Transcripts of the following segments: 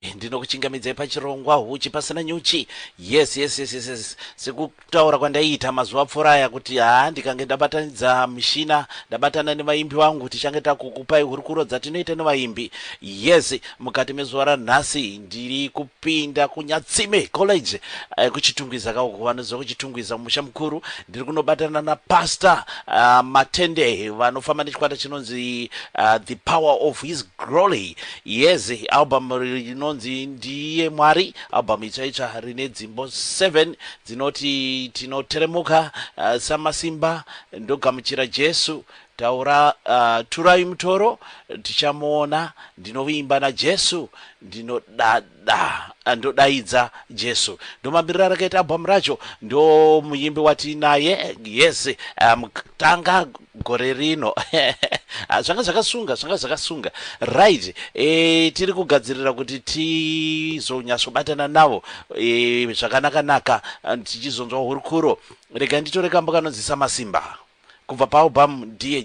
Ndinokuchingamidzai pachirongwa huchi pasina nyuchi. Yes, yes, yes, yes, yes. Sekutaura kwandaiita mazuva apfuura aya kuti haa ndikange ndabatanidza mishina ndabatana nevaimbi vangu tichange takukupai hurukuro dzatinoita nevaimbi. Yes, mukati mezuva ranhasi ndiri kupinda kuNyatsime College eh, kuChitungwiza ka uko vanoziva kuChitungwiza mumusha mukuru. Ndiri kunobatana naPastor ah, Matende vanofamba nechikwata chinonzi ah, The Power of His Glory. Yes album rinonzi Ndiye Mwari album itsva itsva rine dzimbo 7 dzinoti Tinoteremuka, uh, Samasimba, Ndogamuchira Jesu, Taura, uh, Turai Mutoro, Tichamuona, Ndinovimba naJesu, Ndinoda Dah ndodaidza Jesu ndomamirira rakaita album racho ndomuyimbi watiinaye yes um, tanga gore rino ah, zvanga zvakasunga zvanga zvakasunga right e, tiri kugadzirira kuti tizonyatsobatana navo e, zvakanaka naka tichizonzwa hurukuro rega nditore kambo kanonzisa masimba kubva paalbum dear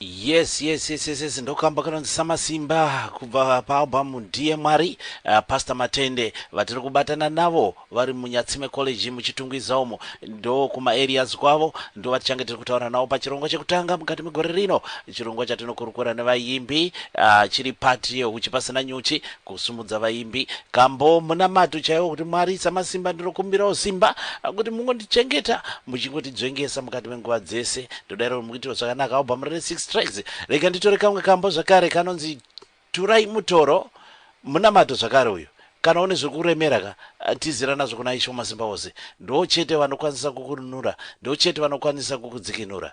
yes yes yes yes, yes. ndokamba kanonzi samasimba kubva paalbum ndiye mwari uh, pastor matende vatiri kubatana navo vari munyatsime college muchitungwiza umo ndo kumaareas kwavo ndo vatichange tiri kutaura navo pachirongwa chekutanga mukati megore rino chirongwa chatinokurukura nevayimbi uh, chiri pati yehuchi pasina nyuchi Kusimudza vaimbi. Kambo munamato chaiwo kuti Mwari samasimba ndinokumbirawo simba kuti mungondichengeta muchingotidzvengesa mukati menguva dzese ndodairawo mukuitirwa zvakanaka album rine 6 tracks rega nditore kamwe kambo zvakare kanonzi Turai Mutoro munamato zvakare uyu kana une zvekuremera ka Tizira nazvo kuna Ishe Wamasimbaose, ndivo chete vanokwanisa kukununura, ndivo chete vanokwanisa kukudzikinura.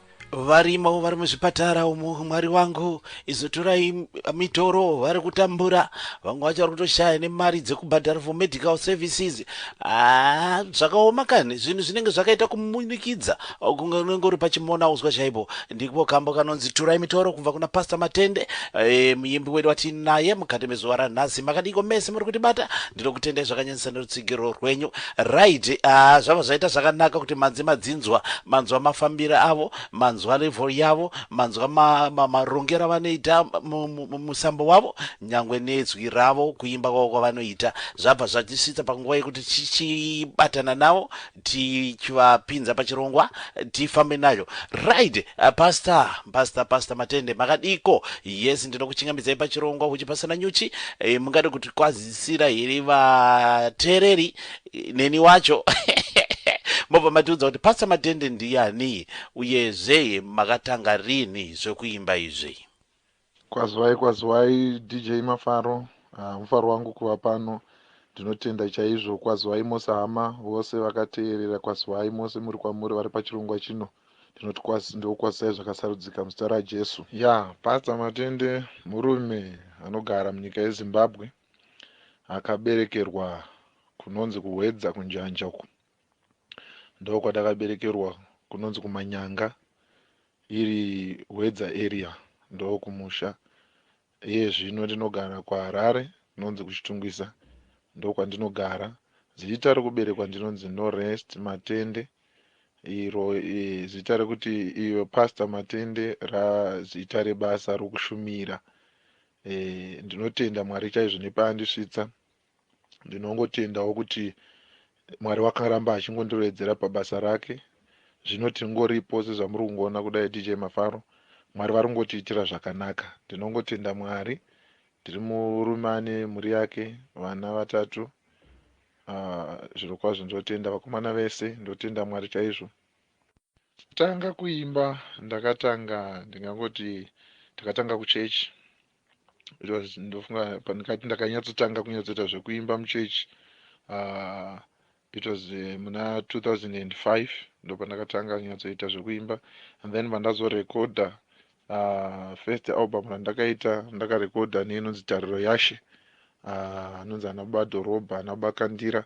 varimo vari muzvipatara umu mwari wangu izotorai mitoro vari kutambura vamwe vacho vari kutoshaya nemari dzekubhadhara for medical services ah, zvakaoma kani zvinhu zvinenge zvakaita kumunikidza kunge unenge uri pachimona uzwa chaipo ndiko kambo kanonzi turai mitoro kubva kuna pasta matende e, eh, muyimbi wedu watinaye mukati mezuva ranhasi makadiko mese muri kutibata Ndinokutendai zvakanyanyisa nerutsigiro rwenyu. Right, ah, zvabva zvaita zvakanaka kuti manzi madzinzwa, manzwa mafambiro avo, manzwa level yavo, manzwa ma, ma, marongero avanoita mu- mu- mu- musambo wavo, nyangwe nedzwi ravo, kuimba kwavo kwavanoita. Zvabva zvatisvitsa panguva yekuti tichibatana navo tichivapinza pachirongwa tifambe nayo right uh, pastor pastor pastor matende makadiko yes ndinokuchingamidzai pachirongwa huchi pasina nyuchi e, mungade kutikwazisira here vateereri eh, neni wacho mobva matiudza kuti pastor matende ndiyani uyezve makatanga rini zvekuimba izvi Kwazwai kwazwai DJ Mafaro ah, mufaro wangu kuva pano ndinotenda chaizvo kwazwai mose hama vose vakateerera kwazwai mose muri kwamuri vari pachirongwa chino ndinoti kwasi ndokukwazisai zvakasarudzika muzita rajesu ya yeah, pasta matende murume anogara munyika yezimbabwe akaberekerwa kunonzi kuhwedza kunjanja uku ndokwatakaberekerwa kunonzi kumanyanga iri hwedza area ndokumusha iye zvino ndinogara kuharare nonzi kuchitungwisa ndokwandinogara zita rekuberekwa ndinonzi norest matende iro e, zita rekuti iyo pastor matende razita rebasa rokushumira e, ndinotenda mwari chaizvo nepaandisvitsa ndinongotendawo kuti mwari wakaramba achingondirowedzera pabasa rake zvino tingoripo sezvamuri kungoona kudai dj mafaro mwari vari kungotiitira zvakanaka ndinongotenda mwari ndiri murume ane mhuri yake vana vatatu ah, zviro uh, kwazvo ndotenda vakomana vese ndotenda mwari chaizvo tanga kuimba ndakatanga ndingangoti ndakatanga kuchechi because ndofunga pandikati ndakanyatsotanga kunyatsoita zvekuimba muchechi uh, ah, it was uh, muna 2005 ndopandakatanga nyatsoita zvekuimba and then pandazorekodha uh, ah, first album randakaita ndakarekodha neinonzi tariro yashe ah, anonzi uh, anaba dhorobha anaba kandira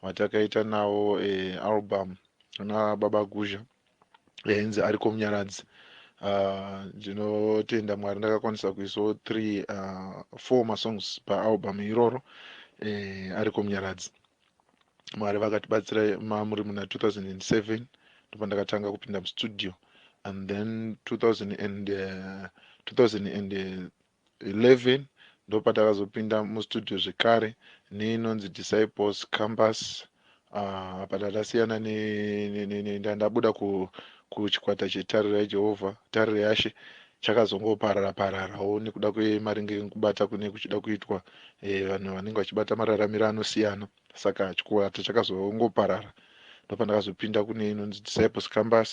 vatakaita nawo uh, album ana baba guzha yainzi ariko munyaradzi ah, ndinotenda uh, mwari ndakakwanisa kuisawo three uh, four masongs paalbum iroro eh, ariko munyaradzi mwari vakatibatsira mamuri muna 2007 ndipo ndakatanga kupinda mustudio and then 2000 and, uh, 2000 and, uh, 11 ndopatakazopinda mustudio zvekare neinonzi Disciples Campus uh, apa ndandasiyana ndandabuda ku, kuchikwata chetariro yaJehovha tariro yashe chakazongoparara pararawo nekuda kwemaringe nekubata kune kuchida kuitwa e, vanhu vanenge vachibata mararamiro anosiyana saka chikwata chakazongoparara ndopandakazopinda kune inonzi Disciples Campus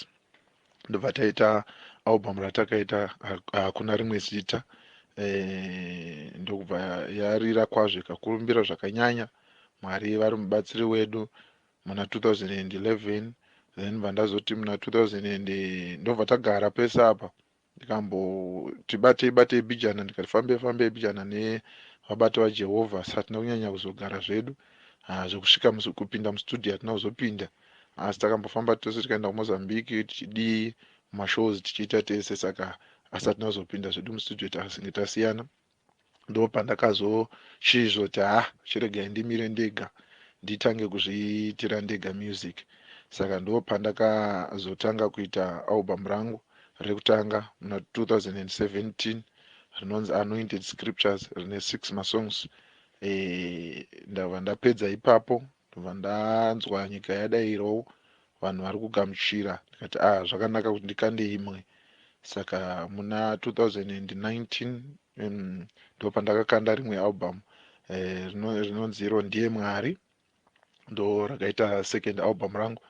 ndobva taita album ratakaita hakuna rimwe zita eh, ndokubva yarira kwazvo ikakurumbira zvakanyanya mwari vari mubatsiri wedu muna 2011 then bva ndazoti muna 2000 ndobva tagara pese apa ndikamboti batei batei bijana ndikati fambei fambei bijana nevabati vajehovha satina kunyanya kuzogara zvedu ah, zvekusvika kupinda mustudio hatina kuzopinda Asi takambofamba tose tikaenda kuMozambique tichidii mashows tichiita tese saka asi atinazopinda zvedu mustudio tasinge tasiyana ndopandakazoshiizvoti ha chiregai ndimire ndega nditange kuzviitira ndega music saka ndopandakazotanga kuita album rangu rekutanga muna 2017 rinonzi anointed scriptures rine six masongs e, ndava ndapedza ipapo Ndobva ndanzwa nyika yadairowo vanhu vari kugamuchira ndikati ah zvakanaka kuti ndikande imwe saka muna 2019 um, ndopandakakanda rimwe album eh, rinonzi iro ndiye mwari ndo rakaita second album rangu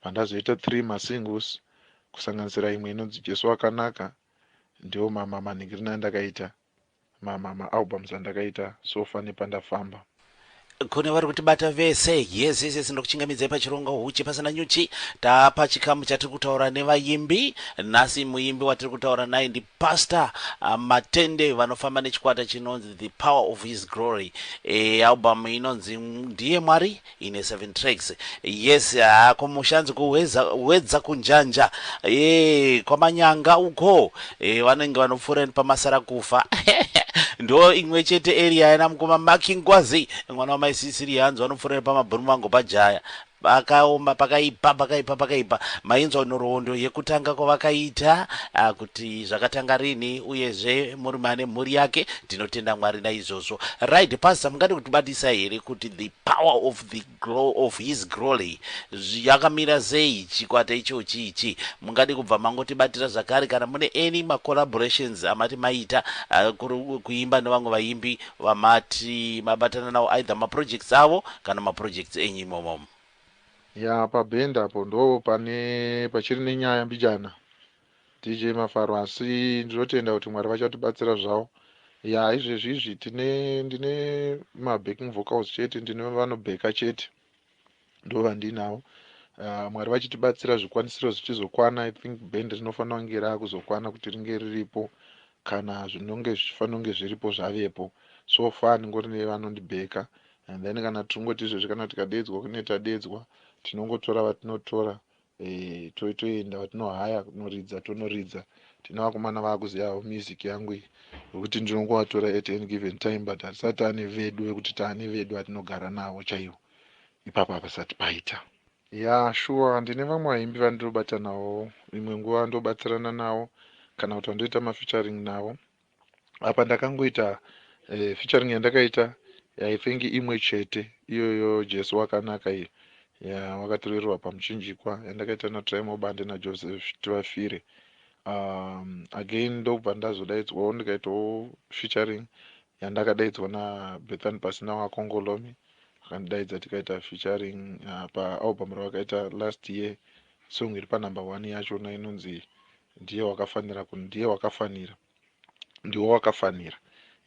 vandazoita three masingles kusanganisira imwe inonzi jesu wakanaka ndiwo mama manhingirina andakaita Ma ma ma albums andakaita so far nepandafamba. Kune vari kutibata vese. Yes yes yes ndokuchingamidzai pachironga huchi pasina nyuchi. Tapa chikamu chatiri kutaura nevayimbi. Nhasi muyimbi watiri kutaura naye ndi Pastor ah, Matende vanofamba nechikwata chinonzi The Power of His Glory. Eh album inonzi Ndiye Mwari. Ine seven tracks yes haa kumusha hanzi kuhweza hwedza kunjanja ee kwamanyanga uko ee vanenge vanopfuura pamasara kufa ndo imwe chete area yana mukoma makingwazi mwana wamai sisiri hanzi vanopfuura pamabhuru mango pajaya pakaoma pakaipa pakaipa pakaipa mainzwa nhoroondo yekutanga kwavakaita ah, kuti zvakatanga rini uyezve murume ane mhuri yake tinotenda mwari naizvozvo right pastor mungade kutibatisa here kuti the Power of the glow of his groly yakamira sei chikwata ichochi ichi mungade kubva mangotibatira zvakare kana mune any ma collaborations amati maita kuri kuimba nevamwe vaimbi vamati mabatana nawo either ma projects avo kana ma projects enyu imomo. Yaa paband apo ndoo pane pachiri nenyaya mbijana DJ Mafaro asi ndinotenda kuti Mwari vachatibatsira zvawo. Yaa izvezvi izvi tine ndine ma backing vocals chete ndine vanobheka chete ndo vandinavo. Uh, Mwari vachitibatsira zvikwanisiro zvichizokwana I think band rinofanira kunge raakuzokwana kuti ringe riripo kana zvinonge zvichifanira kunge zviripo zvavepo. So far ndingori nevanondibheka and then kana tingoti izvezvi kana tikadeedzwa kune tadeedzwa tinongotora vatinotora eh, to, toenda vatinohaya kunoridza tonoridza tine vakomana vaakuzivawo music yangu iyi vekuti ndinongovatora at any given time but hatisati taane vedu vekuti taane vedu atinogara navo chaivo ipapo hapasati paita ya shuwa ndine vamwe vaimbi vandinobatanawo imwe nguva ndobatsirana navo kana kuti vandoita mafeaturing navo apa ndakangoita uh, featuring yandakaita i think imwe chete iyoyo jesu wakanaka iyo ya wakatorerwa pamuchinjikwa yandakaita natrimo bande najoseph tivafire um, again ndokubva ndazodaidzwawo ndikaitawo featuring yandakadaidzwa nabethan pasina wakongolomi akandidaidza tikaita featuring uh, paalbum ravakaita last year song iri panumber one yachona inonzi Ndiye wakafanira ku ndiye wakafanira ndiwe wakafanira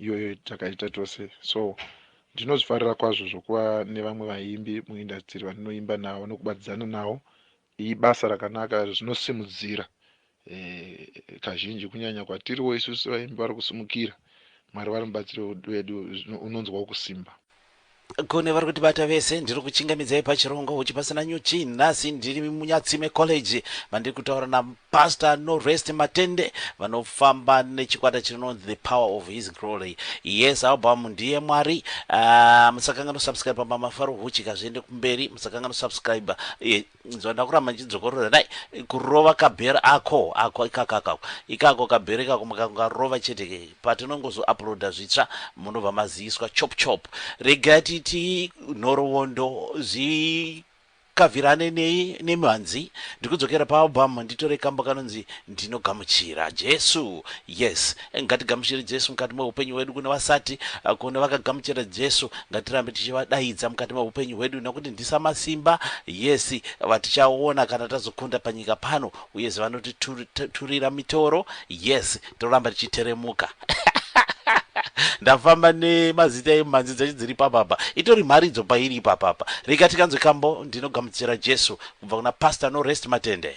iyoyo takaita tose so ndinozvifarira kwazvo zvokuva nevamwe vaimbi muindastiri vandinoimba navo nokubatidzana navo ibasa rakanaka zvinosimudzira e, kazhinji kunyanya kwatiriwo isusu vaimbi vari kusimukira mwari vari mubatsiri wedu unonzwawo kusimba Kune vari kutibata vese ndiri kuchingamidzai pachirongwa huchi pasina nyuchi nhasi ndiri munyatsime college vandiri kutaura napastor norest matende vanofamba nechikwata chinonzi the power of his glory yes album ndiye mwari uh, ah, musakanga nosubscribe pamba mafaro huchi kazviende kumberi musakanga nosubscribe eh, Nzwa ndakuramba ndichidzokorora dai kurova kabher ako ako ikakako ikako kabher ikako mukangarova chete ke patinongozo uploada zvitsva munobva maziiswa chop chop regai titi nhorowondo zi kavirane nei nemhanzi ndikudzokera paalbum nditore kambo kanonzi ndinogamuchira jesu yes Ngatigamuchire Jesu mukati meupenyu hwedu kune vasati eh, kune vakagamuchira Jesu ngatirambe tichivadaidza mukati meupenyu hwedu nekuti ndisa masimba yesi vatichaona kana tazokunda panyika pano uye zivanotiturira mitoro yes toramba tichiteremuka ndafamba nemazita emhanzi dzacho dziri papapa itori mharidzo pairi ipapapa rega tikanzwe kambo ndinogamuchira jesu kubva kuna pastor no rest matende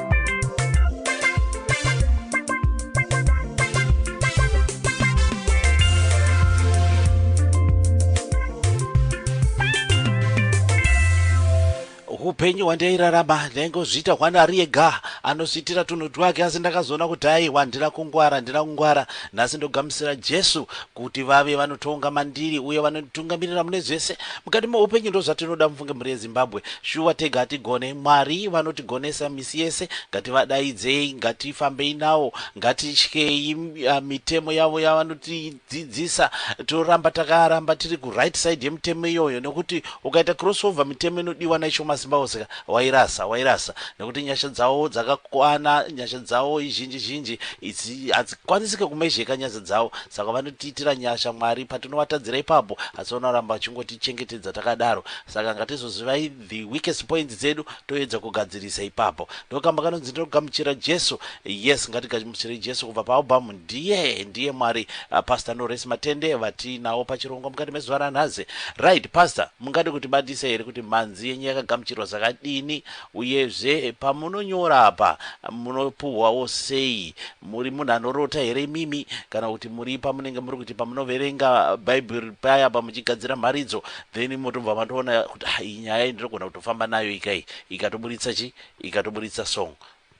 upenyu hwandairarama ndaingozviita hwanari ega anozviitira tunhu twake asi ndakazoona kuti aiwa handina kungwara handina kungwara nhasi ndogamuchira jesu Kuti vave vanotonga mandiri uye vanonditungamirira mune zvese mukati meupenyu ndozvatinoda mufunge mhuri yeZimbabwe shuwa tega hatigone Mwari vanotigonesa misi yese ngativadaidzei ngatifambei nawo ngatityei ah, mitemo yavo yavanotidzidzisa toramba takaramba tiri ku right side yemitemo iyoyo nekuti ukaita crossover mitemo inodiwa naIsho Masimbaoseka wairasa wairasa nekuti nyasha dzawo dzakakwana nyasha dzawo izhinji zhinji it's, it's, Kwanisike kumezheka nyadzi dzavo saka vanotiitira nyasha Mwari patinovatadzira ipapo asi vanoramba vachingotichengetedza takadaro saka ngatizozivai the weakest points dzedu toedza kugadzirisa ipapo ndokamba kanonzi ndinogamuchira Jesu yes ngatigamuchirei Jesu kubva paalbum ndiye ndiye Mwari uh, Pastor Norris Matende vatinawo pachirongwa mukati mezuva ranhazi right Pastor mungade kutibatisa here kuti mhanzi yenyu yakagamuchirwa zvakadini Uyezve pamunonyora apa munopuhwawo sei? Muri munhu anorota here imimi kana kuti muri pamunenge muri kuti pamunoverenga Bhaibheri paya pamuchigadzira mharidzo then motobva matoona kuti ah iyi nyaya iyi ndinogona kutofamba nayo ika iyi ikatoburitsa chi ikatoburitsa song.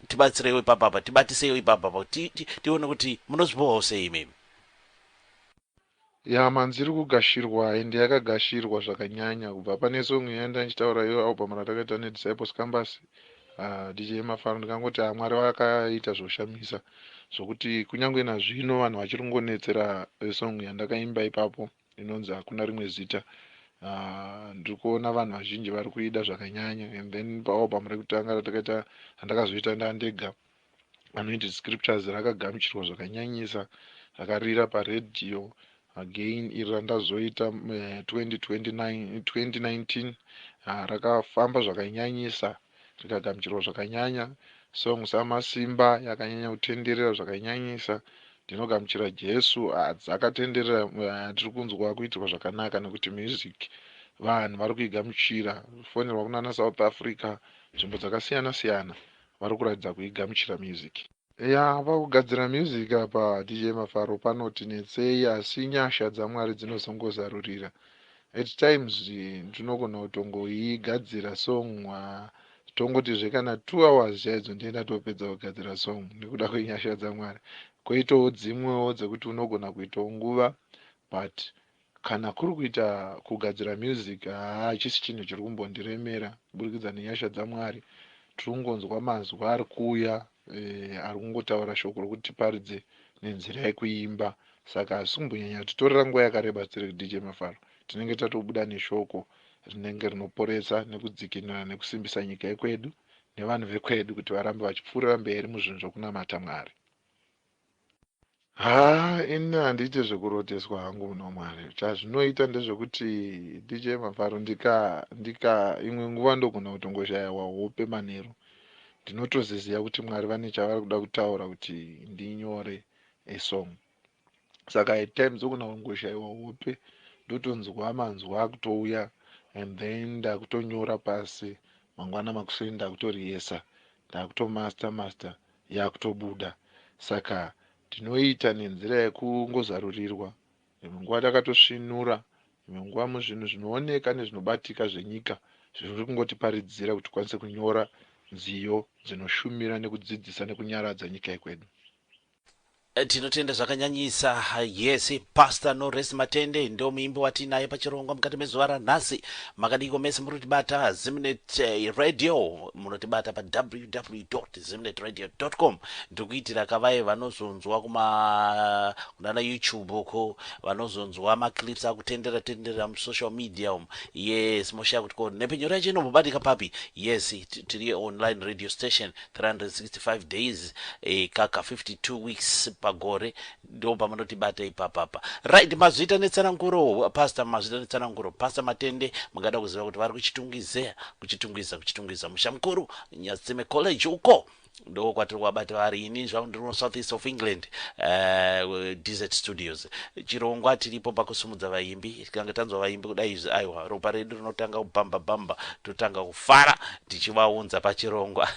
Tibatsireiwo ipapa apa, tibatiseiwo ipapa apa kuti ti, ti, tione kuti munozvipuhwawo sei imimi. Yaa manzi iri kugashirwa ende yakagashirwa zvakanyanya kubva pane song iya yandanga ndichitaura iyo album ratakaita ne Disciples Cambus aah DJ Mafaro ndikangoti aah Mwari vakaita zvoshamisa zvokuti kunyangwe nazvino vanhu vachiri kungonetsera song yandakaimba ipapo inonzi Hakuna rimwe zita aah ndiri kuona vanhu vazhinji vari kuida zvakanyanya and then pa album rekutanga ratakaita randakazoita ndandega Anointed Scriptures rakagamuchirwa zvakanyanyisa rakarira paredhiyo again iri randazoita mu- eh, 2029 2019 ah, rakafamba zvakanyanyisa rikagamuchirwa zvakanyanya song samasimba yakanyanya kutenderera zvakanyanyisa ndinogamuchira jesu ah, dzakatenderera ah, tiri kunzwa kuitirwa zvakanaka nekuti music vanhu vari kuigamuchira fonerwa kunana south africa nzvimbo dzakasiyana siyana varikuratidza kuigamuchira music. Yaa pakugadzira music apa DJ Mafaro panoti netsei asi nyasha dzaMwari dzinozongozarurira at times ndinogona kutongoigadzira song haa tongotizve kana two hours chaidzo ndiye ndatopedza kugadzira song nekuda kwenyasha dzaMwari koitawo dzimwewo dzekuti unogona kuitawo nguva but Kana kuri kuita kugadzira music haa hachisi chinhu chiri kumbondiremera kuburikidza nenyasha dzaMwari tiri kungonzwa manzwi ari kuuya eh, ari kungotaura shoko rokuti tiparidze nenzira yekuimba saka hazvisi kumbonyanya kutitorera nguva yakareba tiri kuDJ Mafaro tinenge tatobuda neshoko rinenge rinoporesa nekudzikinura nekusimbisa nyika yekwedu nevanhu vekwedu kuti varambe vachipfuurira mberi muzvinhu zvokunamata Mwari. Haa ini handiite zvekuroteswa hangu muna Mwari. Chazvinoita ndezvekuti DJ Mafaro ndika ndika imwe nguva ndogona kutongoshayawa hope manheru. Ndinotoziziva kuti Mwari vane chavari kuda kutaura kuti ndinyore a song. Saka at times ndogona kungoshaiwa hope ndotonzwa manzwi akutouya and then ndakutonyora pasi mangwana makuseni ndakutoriyesa ndakutomaster master yakutobuda saka ndinoiita nenzira yekungozarurirwa imwe nguva takatosvinura imwe nguva muzvinhu zvinooneka nezvinobatika zvenyika zviri kungotiparidzira kuti tikwanise kunyora nziyo dzinoshumira nekudzidzisa nekunyaradza nyika yekwedu. Tinotenda zvakanyanyisa yes pastor no rest matende ndo muimbi watiinaye pachirongwa mukati mezuva ranhasi makadiko mese murikutibata zimnet eh, radio munotibata pa www zimnet radio com ndiri kuitira kavaye vanozonzwa kuma kunana youtube uko vanozonzwa maclips akutendera tendera musocial media umu yes moshaya kuti ko nhepfenyuro yacho inombobadika papi yes tiri online radio station 365 days kaka 52 weeks pagore ndopamunotibata ipapapa right mazviita netsananguro pastor mazviita netsananguro pastor matende mungada kuziva kuti vari kuchitungize kuchitungwiza kuchitungwiza musha mukuru nyatsime college uko ndoko kwatiri kwabata vari ini zvavo ndiri kusouth east of england uh, desert studios chirongwa tiripo pakusumudza vaimbi tikange tanzwa vaimbi kudai izvi aiwa ropa redu rinotanga kubhamba bhamba totanga kufara tichivaunza pachirongwa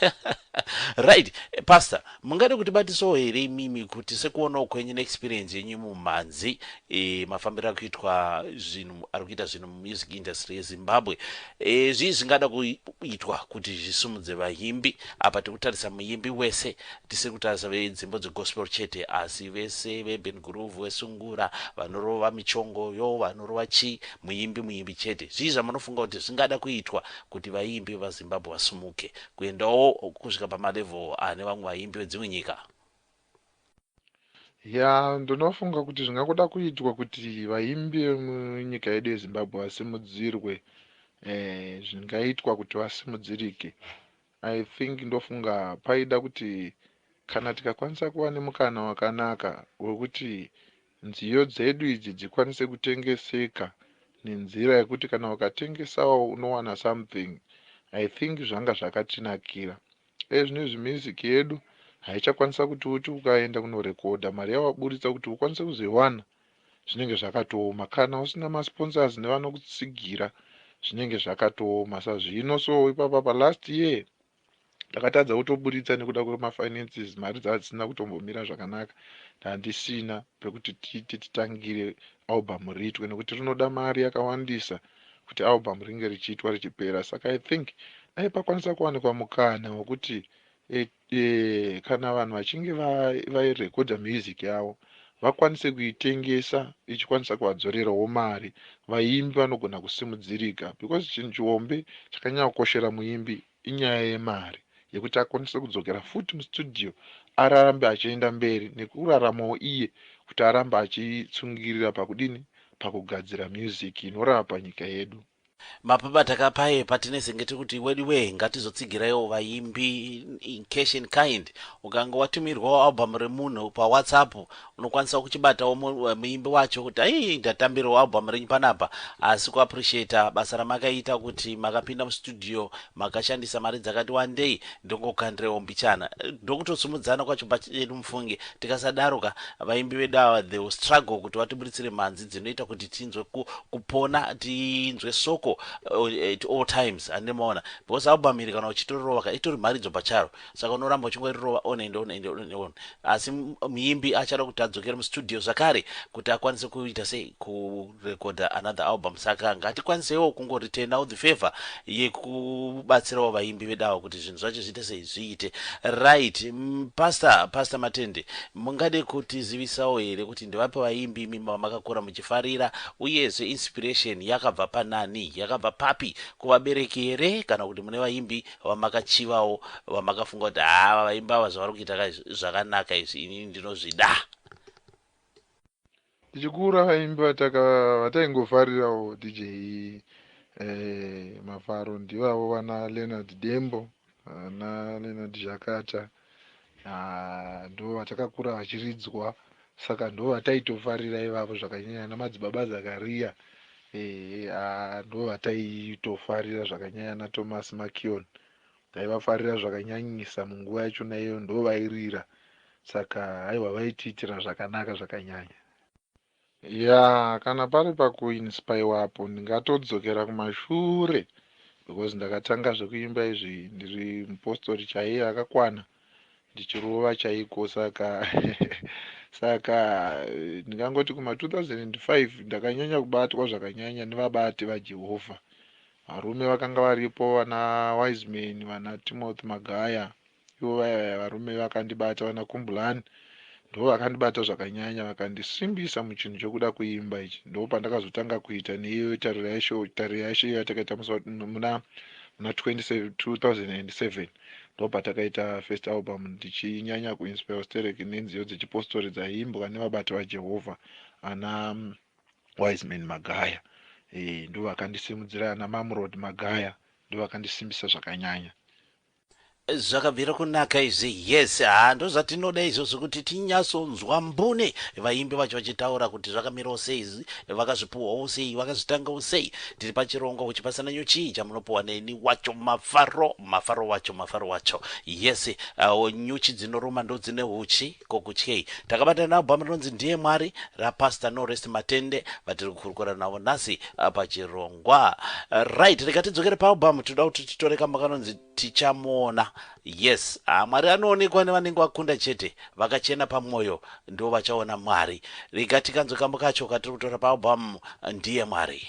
right eh, pastor mungade kuti batisawo here imimi kuti sekuonawo kwenyu neexperience yenyu mumhanzi e, mafambiro akuitwa zvinhu ari kuita zvinhu mumusic industry yezimbabwe e, zvii zvingada kuitwa kuti zvisimudze vaimbi apa tikutarisa muimbi wese Tisi kutarisa venzimbo dze gospel chete asi vese ve urban groove we sungura vanorova michongo yoo vanorova chii muimbi muimbi chete zvii zvamunofunga kuti zvingada kuitwa kuti vaimbi veva Zimbabwe vasumuke kuendawo kusvika pama level ane vamwe vaimbi vedzimwe nyika. Yaa ndinofunga kuti zvingakuda kuitwa kuti vaimbi vemunyika yedu yezimbabwe vasimudzirwe eeh zvingaitwa kuti vasimudzirike I think ndofunga paida kuti kana tikakwanisa kuva nemukana wakanaka wekuti nziyo dzedu idzi dzikwanise kutengeseka nenzira yekuti kana ukatengesawo unowana something I think zvanga zvakatinakira. Ezvinezvi music yedu haichakwanisa kuti uti ukaenda kunorecorder mari yawaburitsa kuti ukwanise kuzoiwana zvinenge zvakatooma kana usina ma sponsors nevanokutsigira zvinenge zvakatooma sazvino so ipapa pa last year ndakatadza kutoburitsa nekuda kwema finances mari dzadzisina kutombomira zvakanaka ndandisina pekuti tiite titangire album riitwe nekuti rinoda mari yakawandisa kuti album ringe richiitwa richipera saka i think dai pakwanisa kuwanikwa mukana wekuti e, Eeh kana vanhu vachinge va vai recorder music yavo vakwanise kuitengesa ichikwanisa kuvadzorerawo mari vaimbi vanogona kusimudzirika because chinhu chihombe chakanyanya kukoshera muimbi inyaya yemari yekuti akwanise kudzokera futi mustudio ararambe achienda mberi nekuraramawo iye kuti arambe achitsungirira pakudini pakugadzira music inorapa nyika yedu Mapabata ka paye patinezenge tiri kuti weduwee ngatizotsigiraiwo vaimbi in cash in kind ukange watumirwawo album remunhu pa whatsapp unokwanisawo kuchibatawo muimbi wacho kuti ayii ndatambirwa album renyu panapa asi ku appreciater basa ramakaita kuti makapinda mu studio Makashandisa mari dzakati wandei ndongokandirewo mbichana ndokutosimudzana kwacho pachedu mufunge tikasadaro ka vaimbi vedu ava they will struggle kuti vatiburitsire mhanzi dzinoita kuti tinzwe ku, kupona tinzwe soko eh, at all times hande maona because album iri kana uchitorova ka itori mharidzo pacharo saka unoramba uchingorirova on and on and on and on asi muimbi achada kuti adzokere mustudio zvakare kuti akwanise kuita sei ku recorder another album saka ngatikwanisewo kungo returnawo the favour yekubatsirawo vaimbi vedawa kuti zvinhu zvacho zviite sei zviite right pastor pastor matende mungade kutizivisawo here kuti ndivapi vaimbi imi vamakakura muchifarira uyezve inspiration yakabva panani yakabva papi kuvabereki here kana kuti mune vaimbi vamakachivawo vamakafunga kuti haa vaimbi ava zvavari kuita zvakanaka izvi inini ndinozvida Tichikura vaimbi vataingofarirawo DJ Mafaro ndivavo vana Leonard Dembo, vana Leonard Zhakata ndoo vatakakura vachiridzwa saka ndoo vataitofarira ivavo zvakanyanya ana Madzibaba Zakaria ndoo vataitofarira zvakanyanya ana Thomas Makion Taivafarira zvakanyanyisa munguva yachona iyoyo ndovairira saka haiwa vaitiitira zvakanaka zvakanyanya. Yaa kana pari pakuinspaiwa apo ndingatodzokera kumashure because ndakatanga zvekuimba izvi ndiri mupostori chaiye akakwana ndichirova chaiko saka saka ndingangoti kuma 2005 ndakanyanya kubatwa zvakanyanya nevabati vaJehovha Varume vakanga varipo vana Wiseman, vana Timothy Magaya ivo vaya vaya varume vakandibata vana Kumbulani ndivo vakandibata zvakanyanya vakandisimbisa muchinhu chekuda kuimba ichi ndipo pandakazotanga kuita neiyoyo tariro yacho tariro yacho iyo yatakaita musi wa- muna muna 27 2007 ndipo patakaita first album ndichinyanya kuinspira sterek nenziyo dzechipostori dzaiimbwa nevabati vajehovha ana mm, Wiseman Magaya eh, ndovakandisimudzira ana Mamrod Magaya ndovakandisimbisa zvakanyanya. Zvakabvira kunaka izvi yes haa ndozvatinoda izvozvo kuti tinyasonzwa mbune vaimbi vacho vachitaura kuti zvakamirawo sei vakazvipuhwawo sei vakazvitangawo sei tiri pachirongo kuchipasana nyuchii chamunopuhwa neni wacho mafaro mafaro wacho mafaro wacho yes uh, nyuchi dzinoruma ndodzine uchi Ko kutyei? Takabatana nealbum rinonzi Ndiye Mwari raPastor Norest Matende vatiri kukurukura navo nhasi pachirongwa. Right, rega tidzokere paalbum tinoda kuti titore kamba kanonzi Tichamuona. Yes, ah, Mwari anoonekwa nevanenge vakunda chete, vakachena pamwoyo ndivo vachaona Mwari. Rega tikanzwe kamba kacho katiri kutora paalbum Ndiye Mwari.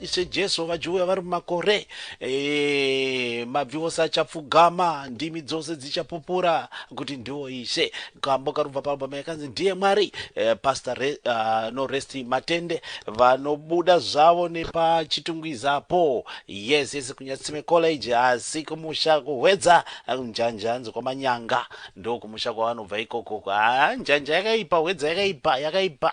Ishe Jesu vajuwe vari mumakore e, mabvi ose achapfugama, ndimi dzose dzichapupura kuti ndiwo Ishe. Kambo karubva paalbum yakanzi Ndiye Mwari. E, Pastor Re, uh, no Resti Matende vanobuda zvavo nepachitungwiza po. Yes, yes, kunyatsime college asi kumusha kuhwedza njanja hanzi kwamanyanga. Ndokumusha kwavanobva ikoko. Ah, njanja yakaipa, hwedza yakaipa, yakaipa.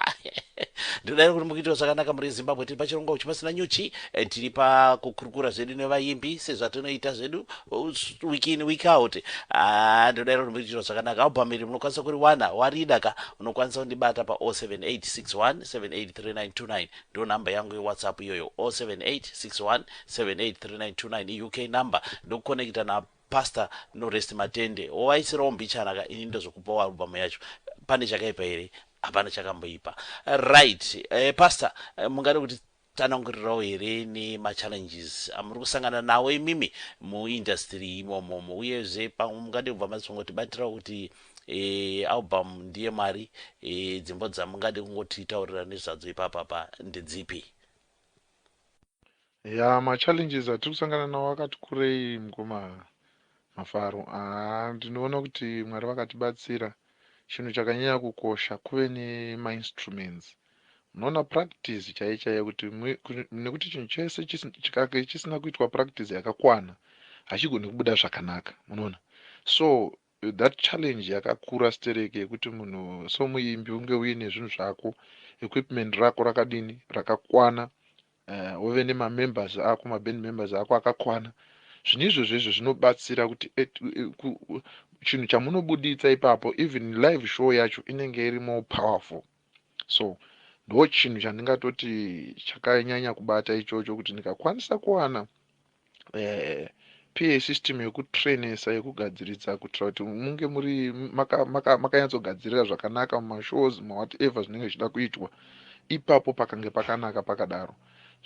Ndinodaira kuti mukuitawo zvakanaka muri Zimbabwe tiri pachirongwa uchipasina nyuchi eh, tiri pakukurukura zvedu nevaimbi sezvatinoita zvedu uh, s- week in week out Ah, ndinodaira kuti mukuitawo zvakanaka album iri munokwanisa kuriwana warida ka unokwanisa kundibata pa 0786178392 ndo namba yangu yewhatsapp iyoyo 0786178392 iuk number ndokukonekita na Pastor no rest matende wovaisirawo mbichana ka ini ndozokupawo album yacho pane chakaipa here hapana chakamboipa right eh, Pastor eh, mungade kuti tanangurirawo here nema challenges amuri kusangana nawo imimi mu industry imomo uyezve pamwe mungade kubva mazongotibatirawo kuti eh, album ndiye mwari eh, dzimbo dzamungade kungotitaurira nezvadzo ipapapa ndedzipi Yaa ma challenges atiri kusangana nawo akati kurei mukoma Mafaro haa ndinoona kuti Mwari vakatibatsira chinhu chakanyanya kukosha kuve nema instruments munoona practice chaiyo chaiyo kuti nekuti chinhu chese chikange chisina kuitwa practice yakakwana hachigoni kubuda zvakanaka munoona so That challenge yakakura stereki yekuti munhu somuimbi unge uine zvinhu zvako equipment rako rakadini rakakwana uh, wove nemamembers ako maband members ako akakwana zvinhu izvozvo izvo zvinobatsira kuti eh, chinhu chamunobuditsa ipapo even live show yacho inenge iri more powerful So ndochinhu chandingatoti chakanyanya kubata ichocho kuti ndikakwanisa kuwana eh, PA system yekutrainesa yekugadziridza kuitira kuti munge muri makanyatsogadzirira maka, maka zvakanaka mumashows mawhatever zvinenge zvichida kuitwa ipapo pakange pakanaka pakadaro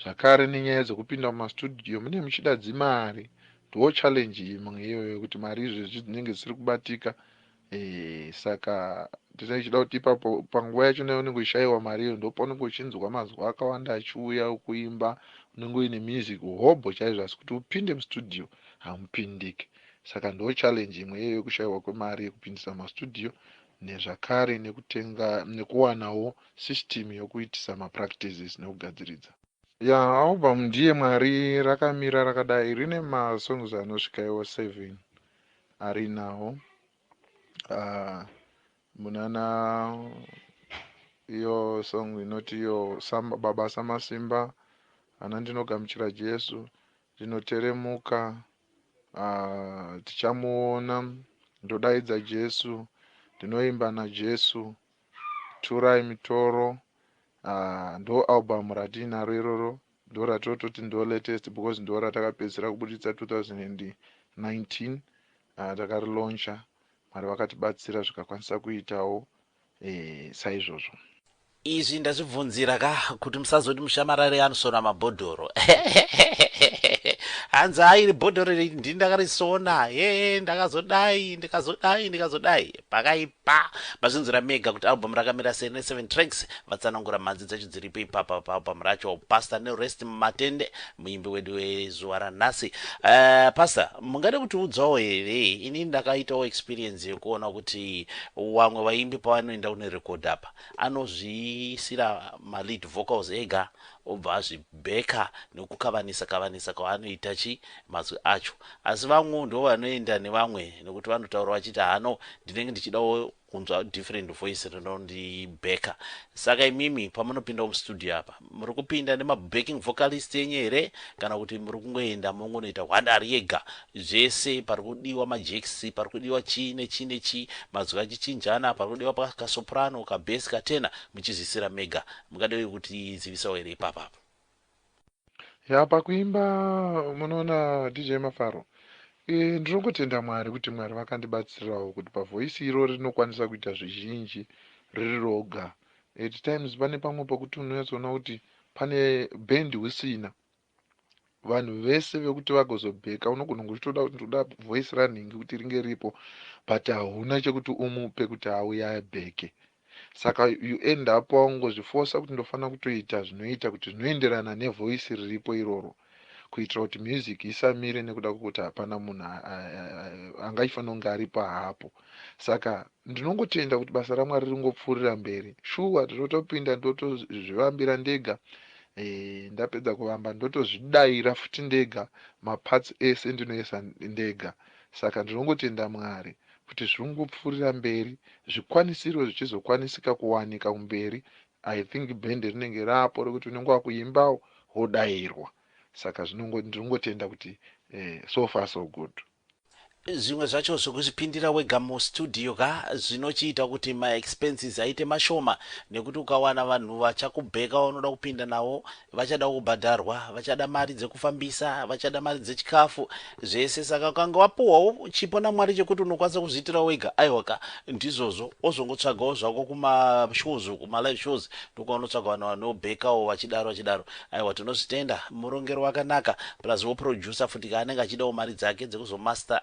zvakare nenyaya dzekupinda mumastudio mune muchida dzimari ndoo challenge imwe iyoyo yekuti mari izvezvi dzinenge dzisiri kubatika Eh, saka ndinenge ndichida kuti ipapo panguva yacho nayo unenge uchishaiwa mari iyo ndopaunenge uchinzwa mazuva akawanda achiuya ukuimba unenge uine music hobho chaizvo asi kuti upinde mustudio hamupindike saka ndo challenge imwe iyeyo yekushaiwa kwemari yekupindisa mastudio nezvakare nekutenga nekuwanawo system yokuitisa mapractices nekugadziridza ya album ndiye mwari rakamira rakadai rine masongs anosvika iwo seven Ari now uh, munana iyo song inoti iyo samba, baba samasimba ana ndinogamuchira jesu ndinoteremuka uh, tichamuona ndodaidza jesu ndinoimba najesu turai mitoro uh, ndo album ratiinaro iroro Ndoratototi ndo latest because ndoratakapedzisira kubuditsa 2019 takari launcher Mwari vakatibatsira zvikakwanisa kuitawo saizvozvo. Izvi ndazvibvunzira ka kuti musazoti mushamarari anosona mabhodhoro hanzi haa iri bhodhoro iri ndini ndakarisona hee ndakazodai ndikazodai ndikazodai pakaipa Ba, mazvinzwira mega kuti album rakamira sei rine seven tracks vatsanangura mhanzi dzacho dziripo ipapa paalbum racho Pastor ne rest mumatende muimbi wedu wezuva ranhasi uh, Pastor mungade kutiudzawo here ini ndakaitawo experience yekuona kuti wamwe vaimbi pavanoenda kunorekodha apa anozviisira malead vocals ega Obva azvi backer nekukavanisa kavanisa kwaanoita chi mazwi acho. Asi vamwewo ndivo vanoenda nevamwe nekuti vanotaura vachiti haa no ndinenge ndichidawo kunzwa different voice rinondi backer. Saka imimi pamunopindawo mustudio apa muri kupinda nema backing vocalist enyu here kana kuti muri kungoenda mongonoita hwanda ari ega zvese pari kudiwa ma jacks pari kudiwa chii nechii nechii mazwi achichinjana pari kudiwa ka soprano ka bass ka tenor muchizviisira mega Mukada wekutizivisawo here ipapa apa? Ya pakuimba munoona DJ Mafaro. Eh ndinongotenda Mwari kuti Mwari vakandibatsirawo kuti pa voice iro rinokwanisa kuita zvizhinji riri roga. At times pane pamwe pakuti unonyatsoona kuti pane band usina. vanhu vese vekuti vagozobheka unogona kunge uchitoda kuti ndoda voice ranhingi kuti ringe ripo but hauna chekuti umupe kuti auye abheke saka you end up waungozvifosa kuti ndofanira kutoita zvinoita kuti zvinoenderana nevoice riripo iroro kuitira kuti music isamire nekuda kwekuti hapana munhu angachifanira kunge aripo haapo saka ndinongotenda kuti basa ramwari ringopfuurira mberi shuwa tinotopinda ndotozvivambira ndega e, ndapedza kuvamba ndotozvidaira futi ndega maparts ese ndinoisa ndega saka ndinongotenda mwari kuti zviringopfuurira mberi zvikwanisiro zvichizokwanisika kuwanika kumberi i think bhende rinenge rapo rekuti unenge wakuimbawo wodairwa saka zvinongo ndinongotenda kuti eh, so far so good Zvimwe zvacho zvekuzvipindira wega mu studio ka zvinochiita kuti ma expenses aite mashoma nekuti ukawana vanhu vachakubheka vaunoda kupinda navo vachadawo kubhadharwa vachada mari dzekufambisa vachada mari dzechikafu zvese saka ukange wapuhwawo chipo naMwari chekuti unokwanisa kuzviitira wega aiwa ka ndizvozvo wozongotsvagawo zvako kuma shows uku ma live shows ndokwaonotsvaga vanhu vanobhekawo vachidaro vachidaro Aiwa tinozvitenda murongero wakanaka plus wo producer futi ka anenge achidawo mari dzake dzekuzo master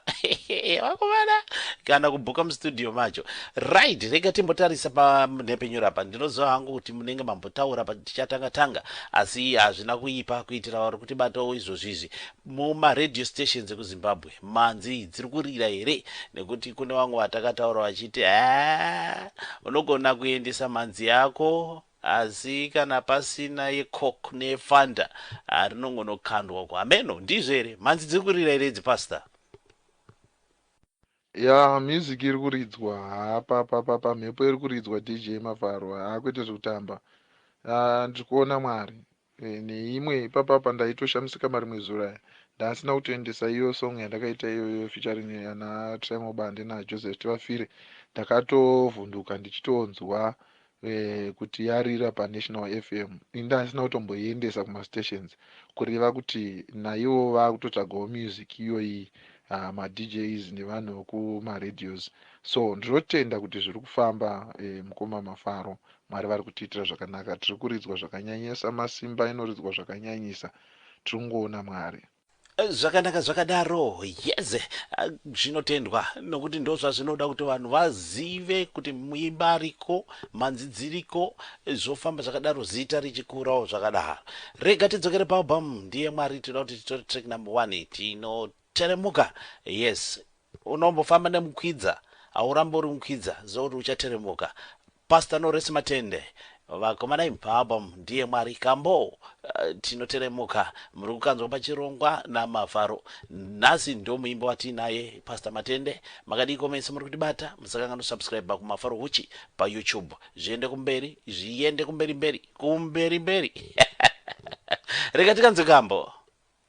vakomana kana kubhuka mustudio macho right rega timbotarisa panhepenyuro apa ndinoziva hangu kuti munenge mambotaura patichatanga tanga asi hazvina kuipa kuitira vari kutibatawo izvozvi izvi mumaradio stations ekuzimbabwe manzi dziri kurira here nekuti kune vamwe vatakataura vachiti a unogona kuendesa manzi yako Asi kana pasina ye coke ne fanta haa rinongono kandwa uko hameno ndizvo here mhanzi dziri kurira here idzi pastor. Yaah music iri kuridzwa haa pa pa pa pa mhepo iri kuridzwa DJ Mafaro haa kwete zvekutamba haa ndiri kuona Mwari Eeh neimwe ipapa apa ndaitoshamisika marimwe zuro aya ndaasina kutoendesa iyo song yandakaita iyoyo featuring ana Triangle Bande na Joseph Tivafire ndakatovhunduka ndichitonzwa eh, kuti yarira pa National FM ini ndaasina kutomboiendesa kuma stations kureva kuti naivo vakutotsvagawo music iyoyi uh, ma DJs nevanhu vekuma radios so ndinotenda kuti zviri kufamba eh, mukoma Mafaro Mwari vari kutiitira zvakanaka tiri kuridzwa zvakanyanyisa masimba inoridzwa zvakanyanyisa tiri kungoona Mwari. Zvakanaka zvakadaro yes zvinotendwa nokuti ndozvazvinoda kuti vanhu vazive kuti muimba ariko manzi dziriko zvofamba zvakadaro zita richikurawo zvakadaro rega tidzokere paalbum ndiye mwari tinoda kuti titore track number one tino Teremuka yes unombofamba nemukwidza haurambe uri mukwidza ziva kuti uchateremuka Pastor Noresi Matende vakomana imi paAlbum ndiye Mwari kambo uh, tinoteremuka muri kukanzwa pachirongwa naMafaro nhasi ndo muimbo watiinaye Pastor Matende makadiiko mese muri kutibata musakanganwa subscribe kuMafaro Huchi paYouTube zviende kumberi zviende kumberi mberi kumberi mberi rega tikanzwe kambo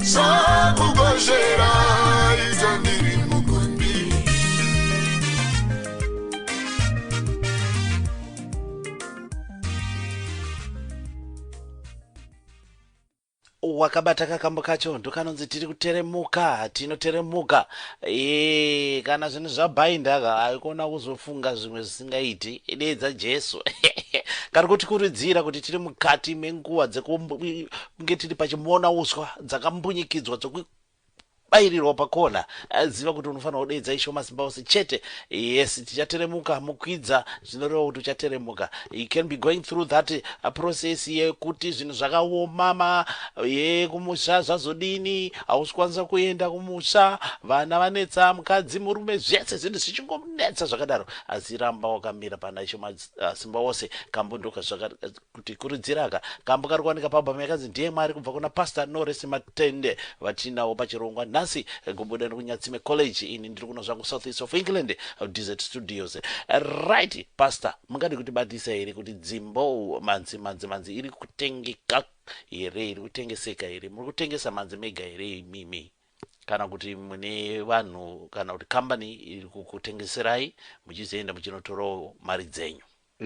Zvakugozhera idzo ndiri mukundi. wakabata kakambo kacho ndokanonzi tiri kuteremuka tinoteremuka Eh, kana zvinhu zvabhaindaka haikona kuzofunga zvimwe zvisingaiti deedza jesu kari kutikuridzira kuti tiri mukati menguva dzeku- Kunge tiri pachimona uswa dzakambunyikidxwa dzoku bairirwa pakona ziva kuti unofanirwa kudeedza ishe wemasimba ose chete yes tichateremuka mukwidza zvinoreva kuti uchateremuka you can be going through that uh, process yekuti zvinhu zvakaomama ye kumusha zvazodini hausi kwanisa kuenda kumusha vana vanetsa mukadzi murume zvese zvinhu zvichingonetsa zvakadaro asi ramba wakamira pana ishe masimba uh, ose kambo ndoka kuti kurudzira aka kambo kari kuwanika paalbum yakanzi Ndiye Mwari kubva kuna Pastor Norris Matende vatiinawo pachirongwa nhasi kubuda nekunyatsime college ini ndiri kuno zvangu south east of England Desert Studios right Pastor mungadi kuti batisa here kuti dzimbo manzi manzi manzi iri kutengeka here iri kutengeseka here muri kutengesa manzi mega here imimi kana kuti mune vanhu kana kuti kambani iri kukutengeserai muchizoenda muchinotorawo mari dzenyu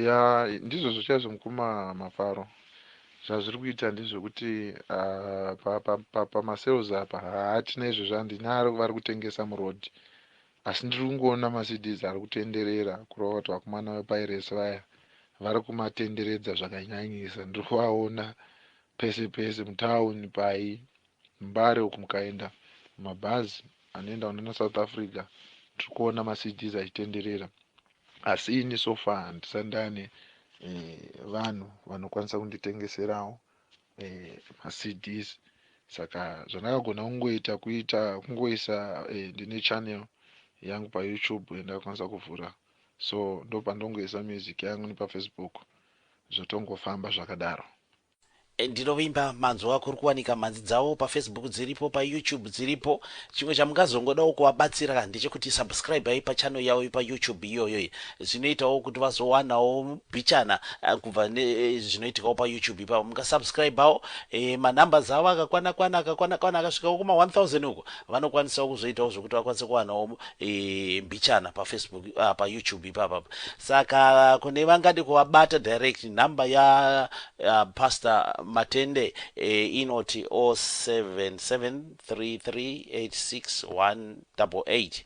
Yaa ndizvozvo chaizvo mukoma Mafaro. Zvazviri kuita ndezvekuti ah, pa- pa- pa- pamasales apa hatina izvo zvandina ari- vari kutengesa muroad asi ndiri kungoona maCDs ari kutenderera kureva kuti vakomana vepairesi vaya vari kumatenderedza zvakanyanyisa. Ndiri kuvaona pese pese mutown pai Mbare uku mukaenda mumabhazi anoenda kunana South Africa ndiri kuona maCDs achitenderera. Asi ini so far handisati ndane vanhu vanokwanisa kunditengeserawo maCDs saka zvandakagona kungoita kuita kungoisa ndine channel yangu paYoutube yandakakwanisa kuvhura so ndopandongoisa music yangu nepaFacebook zvotongofamba zvakadaro. Ndinovimba manzwa kuri kuwanika mhanzi dzavo pafacebook dziripo payoutube dziripo chimwe chamungazongodawo kuvabatsira ndechekuti subscribai pachannel yavo yepayoutube iyoyo zvinoitawo kuti vazowanawo bichana eh, kubva eh, zvinoitikawo payoutube ipapo mungasubscribawo eh, manumbers avo akakwana kwana akakwana kwana akasvikawo kuma 1000 uko Vanokwanisawo kuzoitawo zvekuti vakwanise kuwanawo mbichana pafacebook uh, payoutube ipapa saka kune vangade kuvabata direct number ya uh, pastor matende eh, inoti 0773386188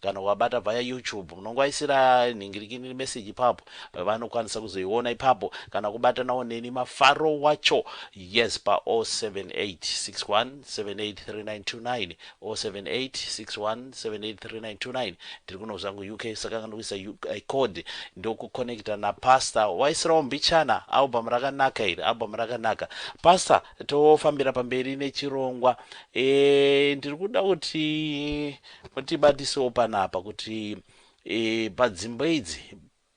Kana wabata via YouTube munongoaisira nhingirikini message ipapo vanokwanisa kuzoiona ipapo kana kubatanawo neni mafaro wacho yes pa 0786178329 0786178329 ndiri kuno zvangu UK saka kana kuisa UK code ndokuconnecta napastor waisirawo mbichana album rakanaka iri album rakanaka pastor tofambira pamberi nechirongwa e, ndiri kuda kuti Mutibatisewo panapa kuti e, padzimbo idzi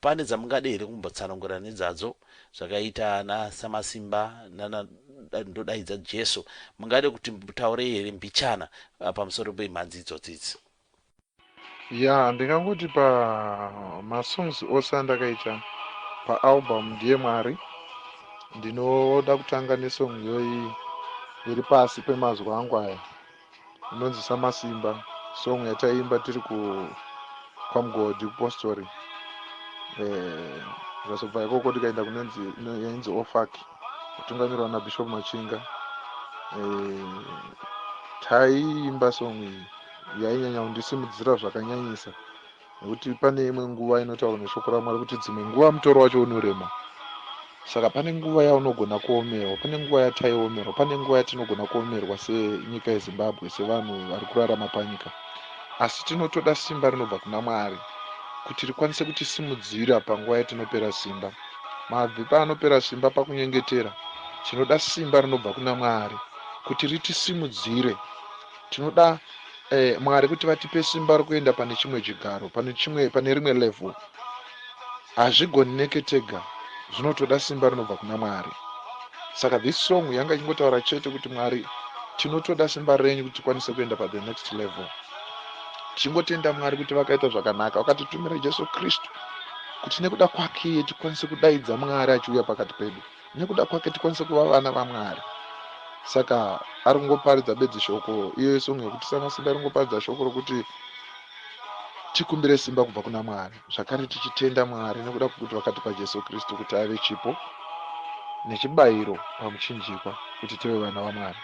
pane dzamungade here kumbotsanangura nedzadzo zvakaita ana Samasimba nana Ndodaidza Jesu. Mungade kuti mutaure here mbichana pamusoro pemhanzi idzodzi idzi? Ya, ndingangoti pa masongs ose andakaita paalbum Ndiye Mwari, ndinoda kutanga nesong iyoyi iri pasi pemazwi angu aya. inonzi Samasimba song yataiimba tiri ku kwaMgodhi kupostori eh, zvazobva eh, ikoko tikaenda kunenzi yainzi ofak kutungamirwa naBishop Machinga eh, taiimba song iyi yainyanya kundisimudzira zvakanyanyisa nekuti pane imwe nguva inotaura neshoko ramwari kuti dzimwe nguva mutoro wacho unorema saka pane nguva yaunogona kuomerwa pane nguva yataiomerwa pane nguva yatinogona kuomerwa senyika yezimbabwe sevanhu vari kurarama panyika asi tinotoda simba rinobva kuna mwari kuti rikwanise kutisimudzira panguva yatinopera simba mabvi paanopera simba pakunyengetera tinoda simba rinobva kuna mwari kuti ritisimudzire Tinoda eh, Mwari kuti vatipe simba rokuenda pane chimwe chigaro, pane chimwe, pane rimwe level. Hazvigoneke tega, zvinotoda simba rinobva kuna Mwari. Saka this song yanga ichingotaura chete kuti Mwari, tinotoda simba renyu kuti tikwanise kuenda pa the next level. Tichingotenda Mwari kuti vakaita zvakanaka, vakatitumira Jesu Kristu kuti nekuda kwake tikwanise kudaidza Mwari achiuya pakati pedu. nekuda kwake tikwanise kuva vana vamwari saka ari kungoparidza bedzi shoko iyo isong yekuti sana simba ari kungoparidza shoko rokuti tikumbire simba kubva kuna mwari zvakare tichitenda mwari nekuda kwekuti vakatipa jesu kristu kuti ave chipo nechibayiro pamuchinjikwa kuti tive vana vamwari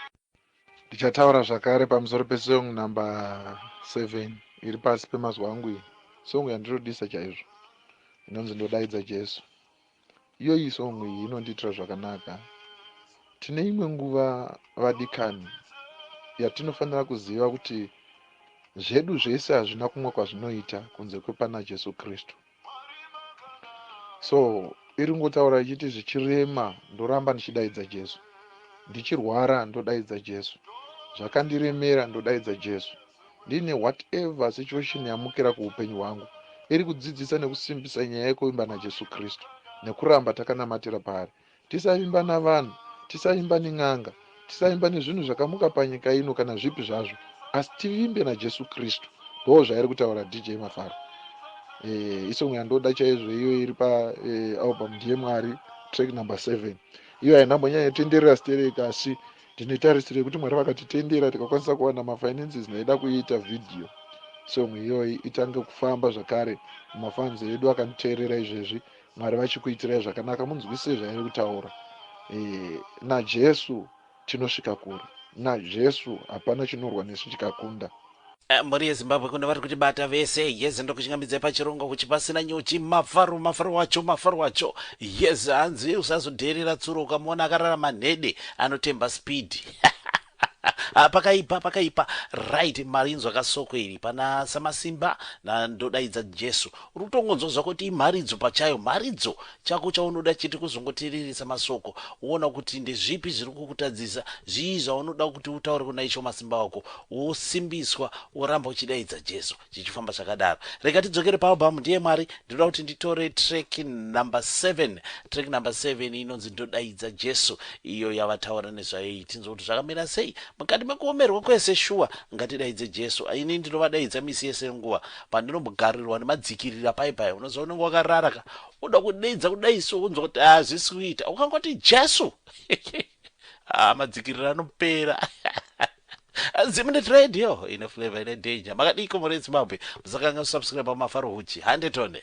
ndichataura zvakare pamusoro pesong number seven iri pasi pemazuva angu iyi song yandinodisa chaizvo inonzi ndodaidza jesu Iyoyi song iyi inondiitira zvakanaka. Tine imwe nguva vadikani yatinofanira kuziva kuti zvedu zvese hazvina kumwe kwazvinoita kunze kwepana Jesu Kristu. So iri ngotaura ichiti zvichirema ndoramba ndichidaidza Jesu. Ndichirwara ndodaidza Jesu. Zvakandiremera ndodaidza Jesu. Ndiine whatever situation yamukira kuhupenyu hwangu iri kudzidzisa nekusimbisa nyaya yekuvimba naJesu Kristu nekuramba takanamatira paari. Tisavimba navanhu, tisavimba nen'anga, tisavimba nezvinhu zvakamuka panyika ino kana zvipi zvazvo asi tivimbe naJesu Kristu. Ndoo zvairi kutaura DJ Mafaro. Eh, isong yandoda chaizvo iyo iri pa eh, album ndiye Mwari track number 7. Iyo haina mbonyanya tenderera stereka asi Tine tarisiro yekuti Mwari vakatitendera tikakwanisa kuwana mafinances ndaida kuiita video song iyoyi itange kufamba zvakare mafans edu akanditeerera izvezvi Mwari vachikuitirai zvakanaka munzwisise zvairi kutaura e, naJesu tinosvika kure naJesu hapana chinorwa nesu chikakunda Mhuri yeZimbabwe kuno vari kuti bata vese yes ndokuchingamidzai pachirongwa kuchi pasina nyuchi mafaro mafaro wacho mafaro wacho yes hanzi usazodheerera tsuro ukamuona akarara manhede anotemba speed Ah, pakaipa pakaipa right marinzwa kasoko iri pana samasimba na ndodaidza jesu uri kutongonzwa zvako kuti imharidzo pachayo mharidzo Chako chaunoda chete kuzongoteereresa masoko woona kuti ndezvipi zviri kukutadzisa, zvii zvaunoda kuti utaure kuna Ishe Wamasimba wako, wosimbiswa woramba uchidaidza Jesu. Chichifamba zvakadaro. Rega tidzokere paAlbum Ndiye Mwari, ndinoda kuti nditore track number seven. Track number seven inonzi Ndodaidza Jesu iyo yavataura nezvayo iyi. Tinzwe kuti zvakamira sei. Mukati mekuomerwa kwese shuwa ngatidaidze Jesu. Ini ndinovadaidza misi yese yenguva pandinombogarirwa nemadzikirira paye paye. Unoziva unenge wakarara ka Unoda kudeidza kudai so unzwa kuti hazvisi ah, kuita. Ukangoti Jesu. ah, madzikirira anopera. Zimnet Radio ine flavor ine danger. Makadiko muri Zimbabwe. Musakanga kusubscribe pamafaro huchi. Hande tone.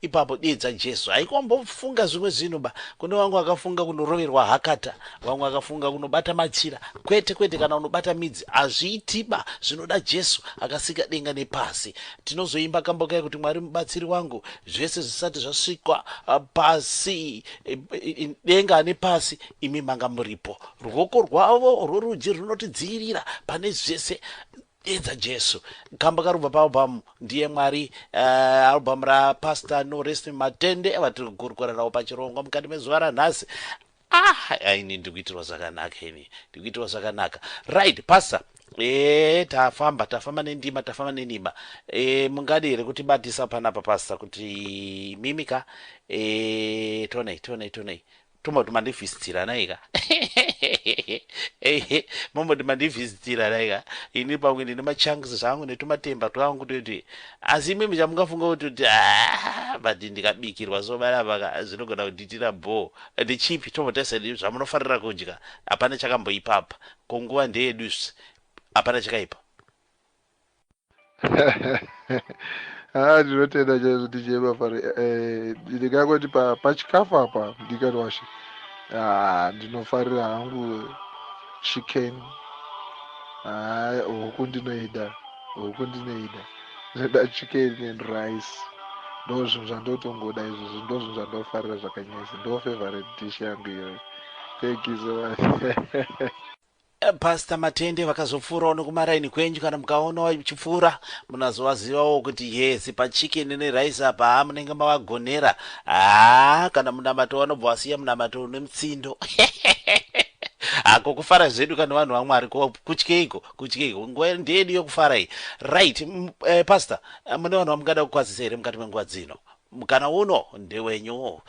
Ipapo diye dza Jesu haiko mbofunga zvimwe zvinhu ba kune wangu akafunga kunoroverwa hakata wangu akafunga kunobata machira kwete kwete kana unobata midzi hazviitiba zvinoda Jesu akasika denga nepasi tinozoimba kambo kai kuti Mwari mubatsiri wangu zvese zvisati zvasvikwa uh, pasi denga ane pasi imi manga muripo ruoko rwavo rworudyi runotidzivirira pane zvese Edza Jesu kamba karubva paalbum ndiye Mwari uh, album rapastor Norest Matende vatiri kukurukura nawo pachirongwa mukati mezuva ranhasi ah ini ndikuitirwa zvakanaka ini ndikuitirwa zvakanaka right pastor e tafamba tafamba nendima tafamba nendima e, mungadi here kuti batisa panapa pastor kuti mimika e, tonei tonei tonei Tomboti mandivhisitiranai ka momboti mandivhisitiranai ka ini pamwe ndine machanks zvangu netumatemba twangu toti asi imi muchamungafunga kuti kuti ah, but ndikabikirwa so vanapa ka zvinogona kunditira bho ndichipi tomboteseni zvamunofarira kudya hapana chakamboipapa ko nguva ndeyedu hapana chakaipa ndinotenda chaizvo tichema pari eh, ndingangoti pachikafu apa ndikati washe ah, ndinofarira hangu chicken ah, huku ndinoida huku ndinoida ndinoda chicken and rice ndo zvinhu zvandotongoda izvozvo ndo zvinhu zvandofarira zvakanyasi ndo favorite dish yangu iyoyo thank you so much Pastor Matende vakazopfuurawo nekumaraini kwenyu kana mukaona vachipfuura munazovazivawo kuti yes pachicken nerice apa haa munenge mavagonera haa kana munamato vanobva vasiya munamato une mutsindo hako kufara zvedu kana vanhu vamwari kutyeiko kutyeiko nguva ndeyedu yokufara iyi right eh, pastor eh, mune vanhu vamungada kukwazisa here mukati menguva dzino mukana uno ndewenyu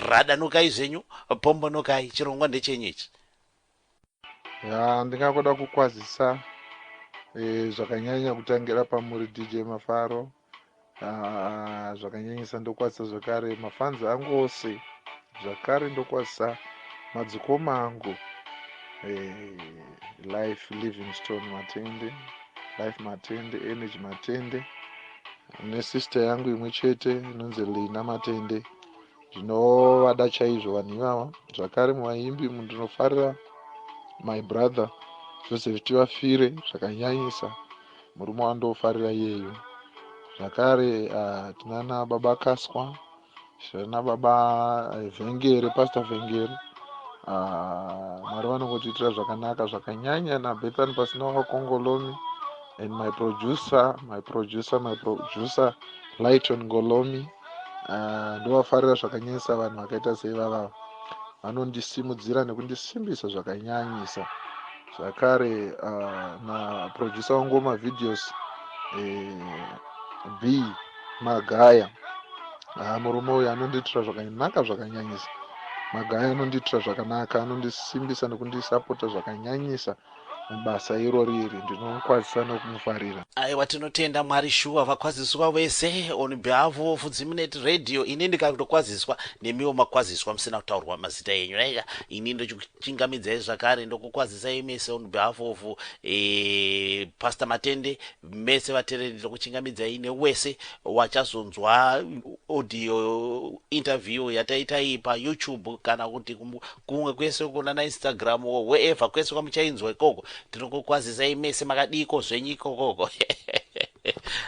radanukai zvenyu pombonokai chirongwa ndechenyu ichi ya ndingakoda kukwazisa e, zvakanyanya kutangira pamuri dj mafaro ah, zvakanyanyisa ndokwazisa zvakare mafanzi angu ose zvakare ndokwazisa madzikoma angu e, life livingstone matende life matende energy matende nesister yangu imwe chete inonzi lina matende Ndinovada chaizvo vanhu ivava. Zvakare muvaimbi umu ndinofarira my brother Joseph Tivafire zvakanyanyisa. Murume wandofarira iyeyo. Zvakare uh, tinana baba Kaswa, tinana baba eh, Vhengere, Pastor Vhengere. Ah, mwari vanongotiitira zvakanaka zvakanyanya nabethan pasina wakongolomi and my producer my producer my producer lighton ngolomi Ah, ndovafarira zvakanyanyisa vanhu vakaita seivava vanondisimudzira nekundisimbisa zvakanyanyisa zvakare ah, naproducer wangu wemavideos eh, b magaya ah, murume uyu anondiitira zvakanaka zvakanyanyisa magaya anondiitira zvakanaka anondisimbisa nekundisapota zvakanyanyisa mubasa irori iri ndinomukwazisa nokumufarira. Aiwa tinotenda Mwari shuwa vakwaziswa vese on behalf of Zimnet radio ini ndikatokwaziswa nemiwo makwaziswa musina kutaurwa mazita enyu naiya ini ndochikuchingamidzai zvakare ndokukwazisai mese on behalf of eh, Pastor Matende Mese vatereri ndokuchingamidzai newese wachazonzwa audio interview yataita iyi pa YouTube kana kuti kumwe kwese uko nana Instagram or wherever kwese kwamuchainzwa ikoko tinokukwazisai mese makadiiko zvenyu ikokoko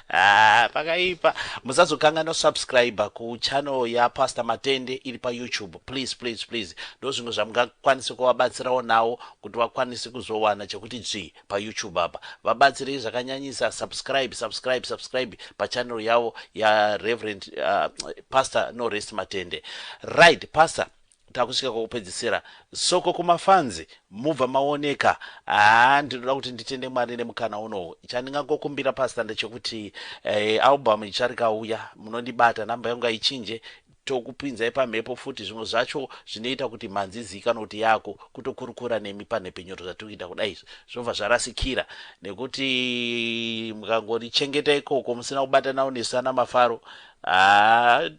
Ah, pakaipa musazokanganwa subscribe kuchannel yapastor matende iri payoutube please please please ndozvimwe zvamungakwanise kuvabatsirawo nawo kuti vakwanise kuzowana chekuti dzvii pa YouTube apa vabatsirei zvakanyanyisa subscribe subscribe subscribe pa channel yavo ya Reverend uh, Pastor no rest matende right Pastor takusvika kwokupedzisira soko kumafanzi mubva maoneka haa ndinoda kuti nditende mwari nemukana unowu chandingangokumbira pasta ndechekuti eh, album icharikauya munondibata namba yangu aichinje Tokupinzai pamhepo futi zvimwe zvacho zvinoita kuti mhanzi iziikanwe kuti yako kutokurukura nemi panhepfenyuro zvatiri kuita kudai izvi zvobva zvarasikira nekuti mukangorichengeta ikoko musina kubatanawo nesu ana mafaro haa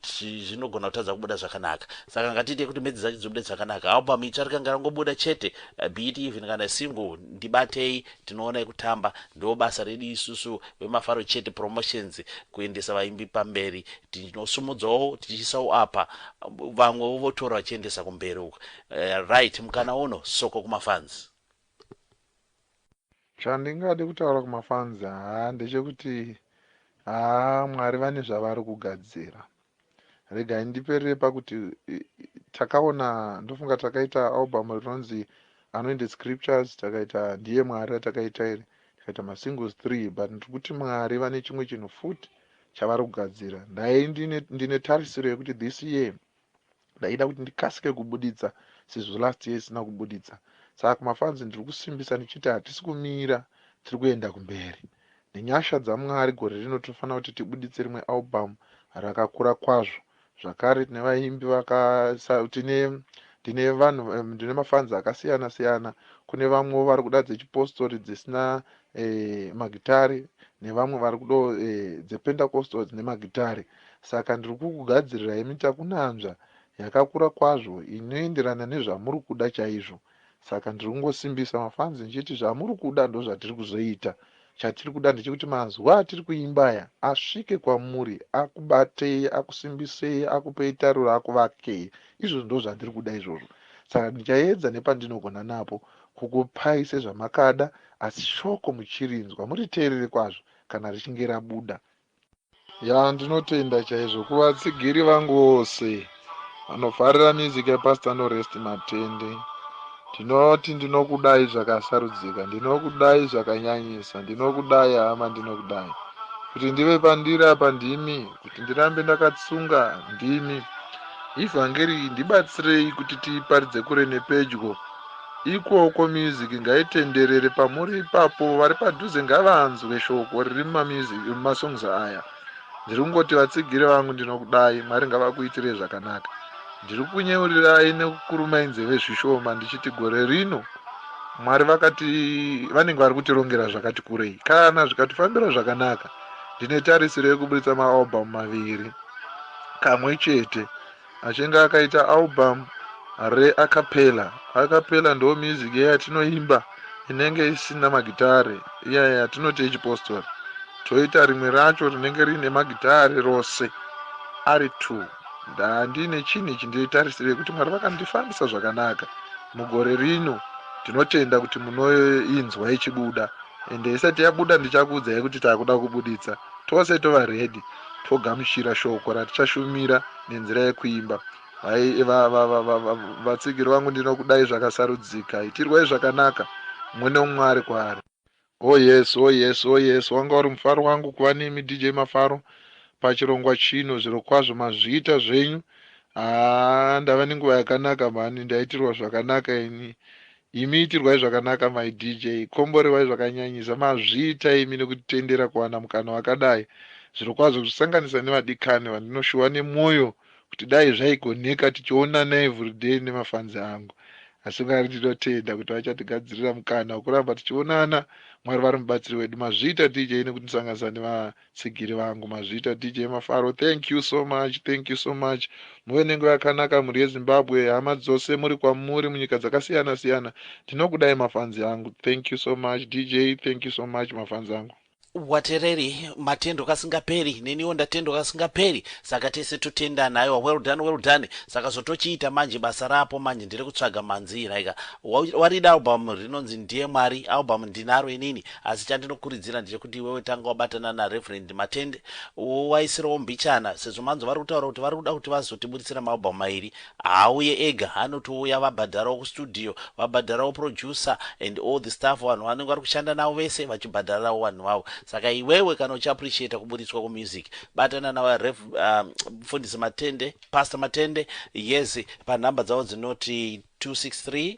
zvinogona kutadza kubuda zvakanaka saka ngatiite kuti medzi dzacho dzibude zvakanaka album itsva rikange rangobuda chete eh, be it even kana single ndibatei Tinoona yekutamba ndiwo basa redu isusu vemafaro chete promotions kuendesa vaimbi pamberi tinosumudzawo tichiisawo apa vamwewo votora vachiendesa kumberi uko uh, right mukana uno soko kumafans chandingade kutaura kumafans haa ndechekuti haa mwari vane zvavari kugadzira Regai ndiperere pakuti takaona ndofunga takaita album rinonzi anointed scriptures takaita ndiye mwari ratakaita iri tikaita masingles three but ndiri kuti mwari vane chimwe chinhu futi chavari kugadzira ndai ndine, ndine tarisiro yekuti this year Ndaida kuti ndikasike kubuditsa sezvo last year isina kubuditsa saka kumafans ndiri kusimbisa ndichiti hatisi kumira tiri kuenda kumberi. Nenyasha dzaMwari gore rino tinofanira kuti tibuditse rimwe album rakakura kwazvo zvakare tine vaimbi vaka tine ndine vanhu ndine mafans akasiyana siyana kune vamwewo vari kuda dzechipostori dzisina eh, magitare nevamwe vari kudo eh, dzepentacostals nemagitare saka ndiri kukugadzirirai mitakunanzva yakakura kwazvo inoenderana nezvamuri kuda chaizvo saka ndiri kungosimbisa mafanzi ndichiti zvamuri kuda ndozvatiri kuzoita chatiri kuda ndechekuti mazuva atiri kuimbaya asvike kwamuri akubatei akusimbisei akupei tariro akuvakei izvozvo ndozvandiri kuda izvozvo saka ndichaedza nepandinogona napo Kukupai sezvamakada asi shoko muchirinzwa muriteerere kwazvo kana richinge rabuda. Yaa ndinotenda chaizvo kuvatsigiri vangu vose vanofarira music yaPastor Norest Matende. Ndinoti ndinokudai zvakasarudzika, ndinokudai zvakanyanyisa, ndinokudai hama, ndinokudai. Kuti ndive pandiri apa ndimi, kuti ndirambe ndakatsunga ndimi. Ivhangeri iyi ndibatsirei kuti tiiparidze kure nepedyo Ikoko music ngaitenderere pamuri ipapo vari padhuze ngavanzwe shoko riri mumamusic mumasongs aya ndiri kungoti vatsigiri vangu ndinokudai mwari ngavakuitirei zvakanaka ndiri kunyeurirai nekukurumai nzeve zvishoma ndichiti gore rino mwari vakati vanenge vari kutirongera zvakati kurei kana zvikatifambira zvakanaka ndine tarisiro yekuburitsa maalbum maviri kamwe chete Achinge akaita album re acapella. Acapella ndo music iya yatinoimba inenge isina magitare iya yatinoti yechipostori toita rimwe racho rinenge riine magitare rose ari two. Ndandiine chinhu ichi ndiri tarisirei kuti Mwari vakandifambisa zvakanaka mugore rino ndinotenda kuti munoinzwa ichibuda ende isati yabuda ndichakuudzai kuti takuda kubuditsa Tose tova ready togamuchira shoko ratichashumira nenzira yekuimba. Hai va, va, va, va, va, vatsigiri vangu ndinokudai zvakasarudzika. Itirwai zvakanaka mumwe neumwe ari kwaari. Oh yes, oh yes, oh yes, wanga uri mufaro wangu kuva nemi DJ Mafaro pachirongwa chino. Zvirokwazvo mazviita zvenyu. Haa ndava nenguva yakanaka mhani, ndaitirwa zvakanaka ini. Imi itirwai zvakanaka my DJ, komborewai zvakanyanyisa mazviita imi nekutitendera kuwana mukana wakadai zvirokwazvo kuzosanganisa nevadikani vandinoshuwa nemwoyo kuti dai zvaigoneka tichionana everyday nemafans angu asi Mwari ndinotenda kuti vachatigadzirira mukana wekuramba tichionana Mwari vari mubatsiri wedu mazviita DJ nekutisanganisa neva Tsigiri vangu mazviita DJ Mafaro thank you so much thank you so much muve nenguva yakanaka mhuri yeZimbabwe hama dzose muri kwamuri munyika dzakasiyana siyana ndinokudai mafanzi angu thank you so much DJ thank you so much mafanzi angu. Watereri matendo kasingaperi neniwo ndatendwa kasingaperi saka tese totendana aiwa well done well done saka zvotochiita manje basa rapo manje ndiri kutsvaga manzii like warida album rinonzi ndiye mwari album ndinaro inini Asi chandinokuridzira ndechekuti iwewe tanga wabatana na Reverend Matende wowaisirawo mbichana sezvo manzwa vari kutaura kuti vari kuda kuti vazotiburitsira ma album mairi. Haauye ega anotouya vabhadharawo ku studio, vabhadharawo producer and all the staff vanhu vavanenge vari kushanda navo vese vachibhadhararawo vanhu vavo. Saka iwewe kana uchi appreciater kuburitswa ku music batana na Rev umm Mfundisi Matende, Pastor Matende yes pa number dzavo dzinoti 263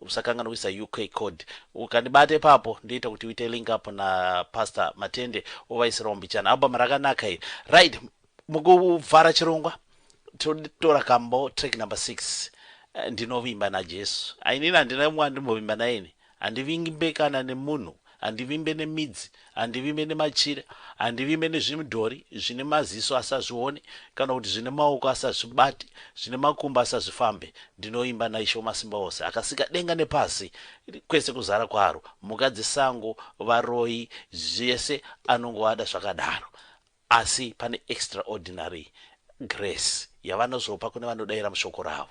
Usakanganwisa UK code. Ukandibata ipapo ndoita kuti uite link up na Pastor Matende wovaisirawo mbichana. Album rakanaka iri. Right, mukuvhara chirongwa totora kambo track number 6 eh, ndinovimba naJesu. Ainini handina mumwe andimbovimba naye ini. Handivimbe kana nemunhu. Handivimbe nemidzi, handivimbe nemachira, handivimbe nezvimidhori zvine maziso asi hazvione, kana kuti zvine maoko asi hazvibate, zvine makumbo asi hazvifambe. Ndinovimba naIshe Wamasimbaose, akasika denga nepasi, kwese kuzara kwaro, mhuka dzesango, varoyi, zvese anongovada zvakadaro. Asi pane extraordinary grace yavanozopa kune vanodaira mushoko ravo.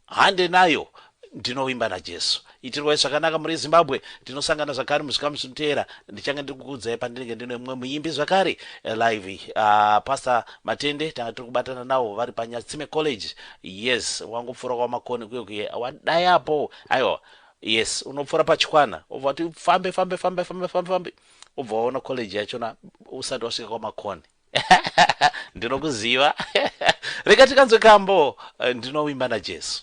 Hande nayo! Ndinovimba naJesu. Itirwai zvakanaka mhuri yeZimbabwe. Tinosangana zvakare muzvikamu zvinoteera. Ndichange ndiri kukuudzai pandinenge ndine mumwe muimbi zvakare live. Uh, Pastor Matende tanga tiri kubatana nawo vari paNyatsime College. Yes, wangopfuura kwaMakoni kuye kuye. Wadayapo. Aiwa. Yes, unopfuura paChikwana. Obva kuti fambe fambe fambe fambe fambe fambe. ubva waona college yachona usati wasvika kwamakoni ndinokuziva rega tikanzwe kambo eh, ndinovimba najesu